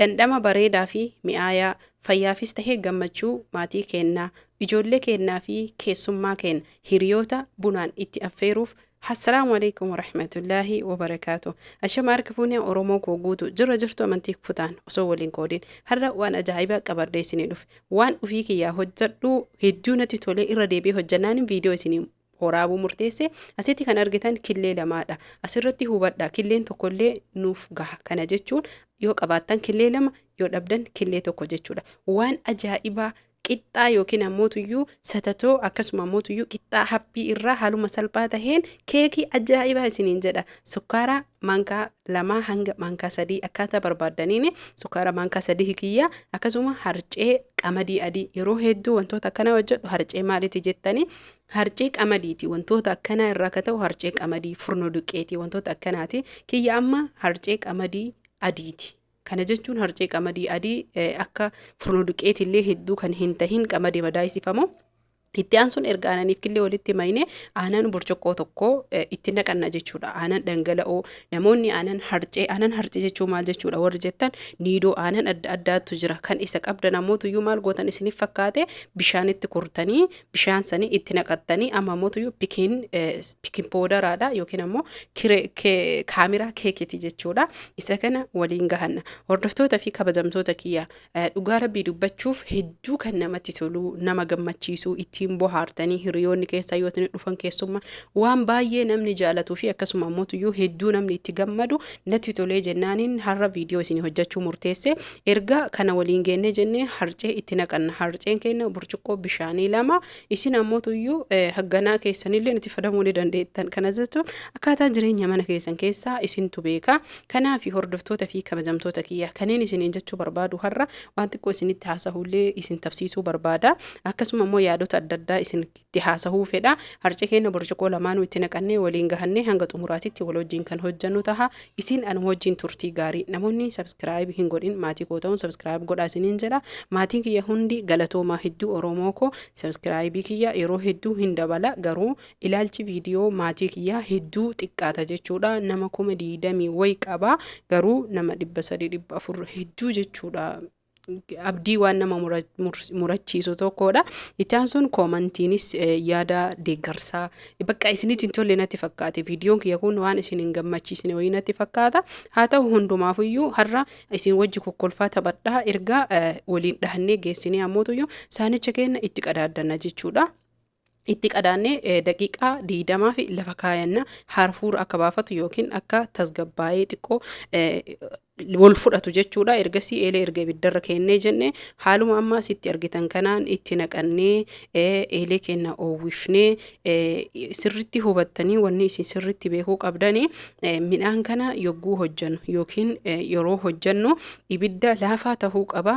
Dhandhama bareedaa fi mi'aayaa, fayyaafis tahe gammachuu maatii keenna, ijoollee keennaa fi keessummaa keenna, hiriyoota bunaan itti affeeruuf Assalaamu Aleykum Warahmatullaahi Wabarakaatuh Ashama Harka Fuune Oromoo koo guutu jirra jirtu amantii kutaan osoo wal hin qoodin har'a waan ajaa'ibaa qabadhee isinii dhufe waan ufii kiyyaa hojjadhu hedduu natti tolee irra deebi'ee hojjannaanin viidiyoo isinii horaabuu murteesse asitti kan argitan killee lamaadha asirratti hubadha killeen tokkollee nuuf gaha kana jechuun yoo qabaattan killee lama yoo dhabdan killee tokko jechuudha waan ajaa'ibaa qixxaa yookiin ammootuyyuu satatoo akkasuma ammootuyyuu qixxaa haphii irraa haaluma salphaa taheen keekii ajaa'ibaa isiniin jedha sukkaaraa maankaa lamaa hanga maankaa sadii akkaataa barbaaddaniin sukaara maankaa sadii hikiyyaa akkasuma harcee qamadii adii yeroo hedduu wantoota akkanaa hojjedhu harcee maaliiti jettanii harcee qamadiiti wantoota akkanaa irraa akka ta'u harcee qamadii furnoo duqqeetii wantoota akkanaati kiyya amma harcee qamadii adiiti. Kana jechuun harcee qamadii adii akka furnoo duqqeetillee hedduu kan hin tahin qamadii madaa'isifamoo Itti aansuun erga aananiif killee walitti mayne aanan burcuqqoo tokko itti naqanna jechuudha. Aanan dhangala'oo namoonni aanan harcee aanan harcee jechuun maal jechuudha warri jettan niidoo aanan adda addaatu jira. Kan isa qabda namoota iyyuu maal gootan isiniif fakkaate bishaanitti kurtanii bishaan sanii itti naqattanii amma immoo iyyuu pikiin pikiin poodaraadha yookiin ammoo kaameraa keekiti jechuudha. Isa kana waliin gahanna. Hordoftoota fi kabajamtoota kiyya Dhugaa rabbii dubbachuuf hedduu kan namatti toluu nama gammachiisuu ittiin bohaartanii hiriyoonni keessaa yoo isin dhufan keessumma waan baay'ee namni jaalatuu fi akkasuma ammoo tuyyuu hedduu namni itti gammadu natti tolee jennaaniin har'a viidiyoo isin hojjechuu murteesse erga kana waliin geennee jennee harcee itti naqanna harceen keenya burcuqqoo bishaanii lama isin ammoo tuyyuu hagganaa keessanillee itti fayyadamuu ni dandeettan kana jechuun akkaataa jireenya mana keessan keessaa isintu beeka Kanaafi hordoftoota fi kabajamtoota kiyya kaneen isiniin jechuu barbaadu har'a waan xiqqoo isinitti haasahuullee isin tabsiisuu barbaada. Akkasuma immoo yaadota adda addaa isinitti haasahuu fedha. Harce keenna burcuqoo lamaanuu itti naqannee waliin gahannee hanga xumuraatitti wal wajjiin kan hojjannu taha. Isin anuma wajjiin turtii gaarii. Namoonni subscribe hin godhin maatii koo tahuun subscribe godhaa isiniin jedha. Maatiin kiyya hundi galatoomaa hedduu Oromoo koo. Subscribe kiyya yeroo hedduu hin dabala garuu Ilaalchi viidiyoo maatii kiyyaa hedduu xiqqaata jechuudha. Nama kuma diidamii wayi qaba garuu nama dhibba sadii dhibba afur hedduu jechuudha. Abdii waan nama murachiisu tokkodha. Ittaan sun koomantiinis yaada deeggarsaa bakka isinitti hin tolle natti fakkaate. Viidiyoon kiyya kun waan isin hin gammachiisne wayii natti fakkaata. Haa ta'u hundumaafuyyuu har'a isin wajji kokkolfaa taphadhaa erga waliin dhahannee geessinee ammootuyyuu saanicha keenya itti qadaaddanna jechuudha. Itti qadaannee daqiiqaa 20f lafa kaayanna harfuura akka baafatu yookiin akka tasgabbaa'ee xiqqoo wal fudhatu jechuudha. Ergasii eelee erga ibiddarra keennee jenne haaluma amma asitti argitan kanaan itti naqannee eelee keenya oowwifnee sirritti hubattanii wanni isin sirritti beekuu qabdani midhaan kana yogguu hojjannu yookiin yeroo hojjannu ibidda laafaa tahuu qaba.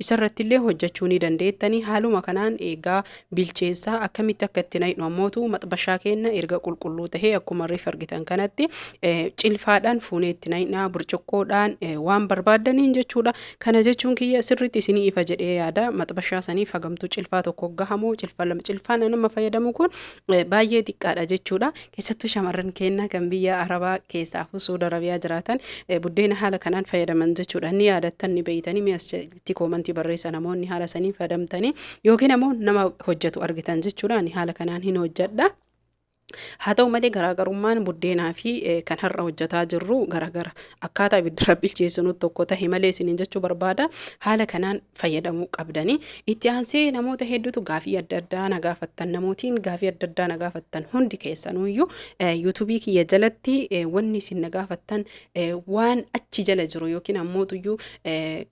Isa irratti illee hojjachuu ni dandeettani. Haaluma kanaan eegaa bilcheessaa. Akkamitti akka itti naqnu ammootu maxbashaa keenna erga qulqulluu tahee akkuma reef argitan kanatti cilfaadhaan fuunee itti naqna. Burcuqqoodhaan waan barbaaddaniin jechuudha. Kana jechuun kiyya sirriitti isinii ifa jedhee yaada. Maxbashaa saniif hagamtuu cilfaa tokko gahamoo cilfaa lama cilfaan anamma fayyadamu kun baay'ee xiqqaadha jechuudha. Keessattuu shamarran keenya kan biyya Arabaa keessaafuu Suud Arabiyaa jiraatan buddeena haala kanaan fayyadaman jechuudha. Ni yaadattan ni beeytanii mee as jalatti koomantii barreessa namoonni haala saniin fayyadamtanii yookiin ammoo nama hojjetu argitan jechuudha. Ani haala kanaan hin hojjedha. Haa ta'u malee garaagarummaan buddeenaa fi eh, kan har'a hojjetaa jirru garaagara. Akkaataa ibidda rabbi bilcheessinuutti tokko tahe malee isiniin jechuu barbaada. Haala kanaan fayyadamuu qabdanii itti aansee namoota hedduutu gaafii adda addaa na gaafattan namootiin gaafii adda addaa na gaafattan hundi keessanuyyuu yuutuubii kiyya jalatti wanni isin na gaafattan waan achi jala jiru yookiin ammootuyyuu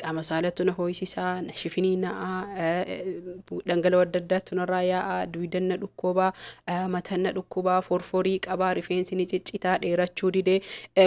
qaama saalatu na hooyisisaa na shifinii na'aa dhangala'oo adda addaatu narraa yaa'aa duwidan na dhukkubaa matan na dhukkubaa forforii qabaa rifeensi ni ciccitaa dheerachuu didee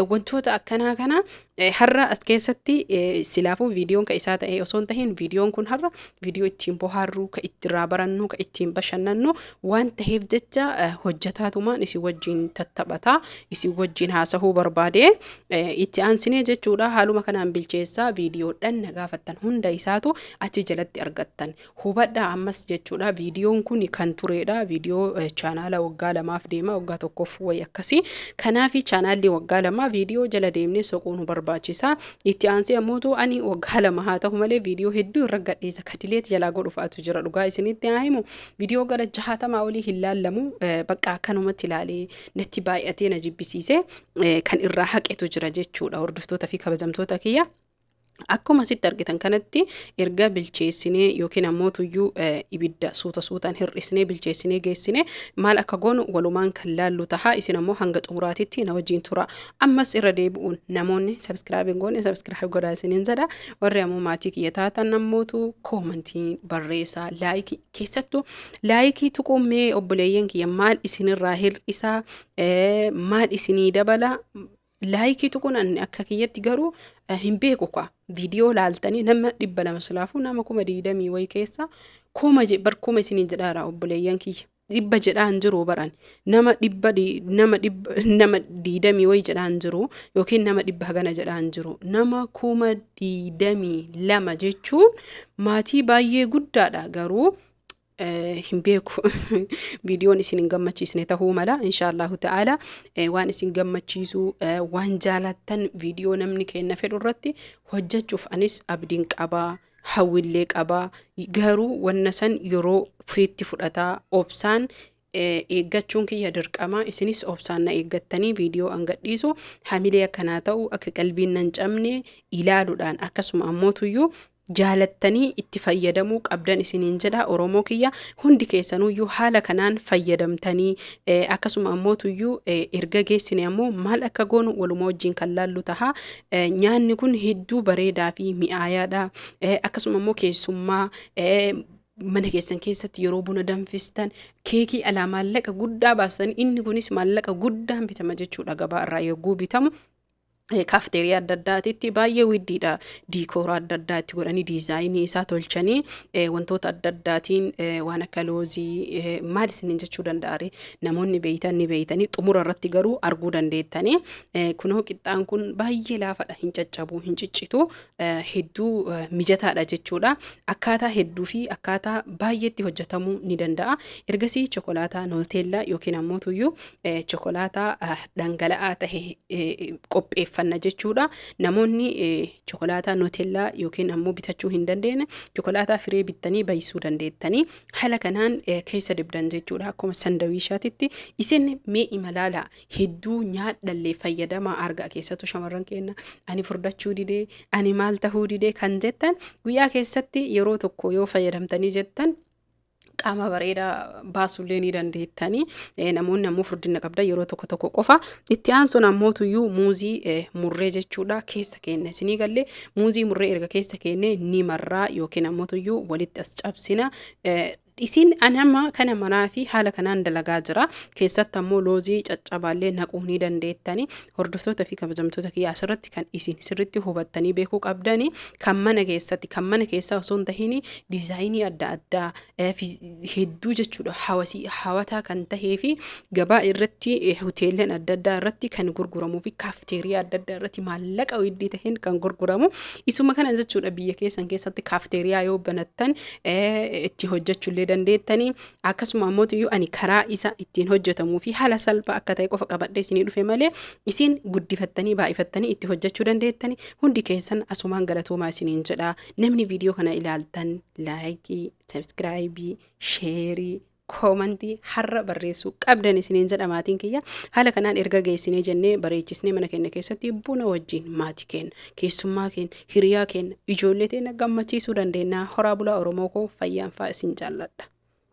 wantoota akkanaa kana Eh, Har'a as keessatti eh, silaafuu viidiyoon ka isaa ta'e osoo hin tahin viidiyoon kun har'a viidiyoo ittiin bohaarru ka ittirraa barannu ka ittiin bashannannu waan taheef jecha eh, hojjetaatumaan isin wajjin tattabata isin wajjin haasahuu barbaade Eh, itti aansinee jechuudha haaluma kanaan bilcheessaa viidiyoodhaan na gaafattan hunda isaatu achi jalatti argattan Hubadhaa ammas jechuudha viidiyoon kun kan tureedha viidiyoo chaanaala waggaa lamaaf deema waggaa tokkoof wayi akkasii kanaafi chaanaalli waggaa lamaa viidiyoo jala deemnee soquun nu barbaachisa itti aansee ammootu ani waggaa lama haa ta'u malee viidiyoo hedduu irra gadhiisa kadileet jalaa godhufaatu jira dhugaa isinitti haa himu viidiyoo gara jahaatamaa olii hin laallamu bakka akkanumatti ilaalee natti baay'atee na jibbisiise kan irraa haqetu jira jechuudha hordoftoota fi kabajamtoota kiyya. Akkuma asitti argitan kanatti erga bilcheessinee yookiin ammoo tuyyuu eh, ibidda suuta suutaan hir'isnee bilcheessinee geessine maal akka goonu walumaan kan laallu taha isin ammoo hanga xumuraatitti na wajjin tura ammas irra deebi'uun namoonni sabskiraayib hin goone sabskiraayib godhaa isiniin jedha warri ammoo maatii kiyya taatan nammootu koomantii barreessaa laayikii keessattuu laayikii tuquu mee obboleeyyan kiyya maal isinirraa hir'isaa eh, maal isinii dabala Laayikii tuquun anni akka kiyyatti garuu hin beeku kwa viidiyoo laaltanii nama dhibba lama silaafuu nama kuma digdamii wayi keessa kuma bar kuma isinii jedhaara obboleeyyan kiyya dhibba jedhaan jiru baran nama dhibba nama dhibba nama digdamii wayi jedhaan jiru yookiin nama dhibba hagana jedhaan jiru nama kuma digdamii lama jechuun maatii baay'ee guddaadha garuu hin beeku viidiyoon isin hin gammachiisne tahuu mala inshaallahu ta'ala waan isin gammachiisu waan jaalattan viidiyoo namni kenna fedhu irratti hojjechuuf anis abdiin qabaa hawwillee qabaa garuu wanna san yeroo fiitti fudhataa obsaan eeggachuun kiyya dirqama isinis obsaan na eeggattanii viidiyoo an gadhiisu hamilee akka naa ta'u akka qalbiin nan cabne ilaaluudhaan akkasuma ammootuyyuu jaalattanii itti fayyadamuu qabdan isiniin jedha oromoo kiyya hundi keessanuyyuu haala kanaan fayyadamtanii eh, akkasuma ammootuyyuu eh, erga geessine ammoo maal akka goonu waluma wajjin kan laallu taha Eh, nyaanni kun hedduu bareedaa fi mi'aayaadha Eh, akkasuma ammoo keessummaa eh, mana keessan keessatti yeroo buna danfistan keekii alaa maallaqa guddaa baastan inni kunis maallaqa guddaan bitama jechuudha gabaa irraa yogguu bitamu eh, kaafteerii adda addaatitti baay'ee widdiidha diikoora adda addaa itti godhanii diizaayinii isaa tolchanii eh, wantoota adda addaatiin eh, waan akka loozii eh, maal isiniin jechuu danda'are namoonni beeytan ni beeytanii xumura irratti garuu arguu dandeettanii eh, kunoo qixxaan kun baay'ee laafadha hin caccabu hin ciccitu hedduu mijataadha jechuudha. Akkaataa hedduu fi akkaataa baay'eetti hojjetamuu ni danda'a. Ergasii chokolaataa nooteellaa yookiin ammoo tuyyuu chokolaataa dhangala'aa ta'e qopheeffanna jechuudha. Namoonni chokolaataa nooteellaa yookiin ammoo bitachuu hin dandeenye chokolaataa firee bittanii baay'isuu dandeettanii haala kanaan keessa dibdan jechuudha. Akkuma sandawiishaatitti isin mee imalaalaa hedduu nyaadhallee fayyadamaa argaa keessattuu shamarran keenya ani furdachuu didee ani maal tahuu didee kan jettan guyyaa keessatti yeroo tokko yoo fayyadamtanii jettan qaama bareedaa baasuullee ni dandeettanii Eh, namoonni ammoo furdina qabdan yeroo tokko tokko qofa itti aansuun ammootuyyuu muuzii eh, murree jechuudha keessa keenya isinii gallee muuzii murree erga keessa keenya ni marraa yookiin ammootuyyuu walitti as cabsina eh, Dhisiin ani amma kana maraa fi haala kanaan dalagaa jira. Keessatti ammoo loozii caccabaallee naquu ni dandeettani. Hordoftoota fi kabajamtoota kiyya asirratti kan isin sirriitti hubattanii beekuu qabdani kan mana keessatti kan mana keessaa osoo hin tahin diizaayinii adda addaa eh, fi hedduu jechuudha hawasii hawataa kan tahee fi gabaa irratti eh, hoteellan adda addaa irratti kan gurguramuu fi kaafteeriyaa adda addaa irratti maallaqa weeddii taheen kan gurguramu isuma kana jechuudha biyya keessan keessatti kaafteeriyaa yoo banattan itti hojjechuu illee dandeettanii akkasuma ammoo iyyuu ani karaa isa ittiin hojjetamuu fi haala salphaa akka ta'e qofa qabadhee isinii dhufe malee isin guddifattanii baay'ifattanii itti hojjechuu dandeettanii hundi keessan asumaan galatoomaa isiniin jedha namni viidiyoo kana ilaaltan laayikii sabskiraayibii sheerii koomantii har'a barreessuu qabdan isiniin jedha maatiin kiyya haala kanaan erga geessinee jennee bareechisnee mana keenya keessatti buna wajjin maatii keenya keessummaa keenya hiriyaa keenya ijoollee teenya gammachiisuu dandeenya horaa bulaa oromoo koo fayyaan faa isin jaalladha.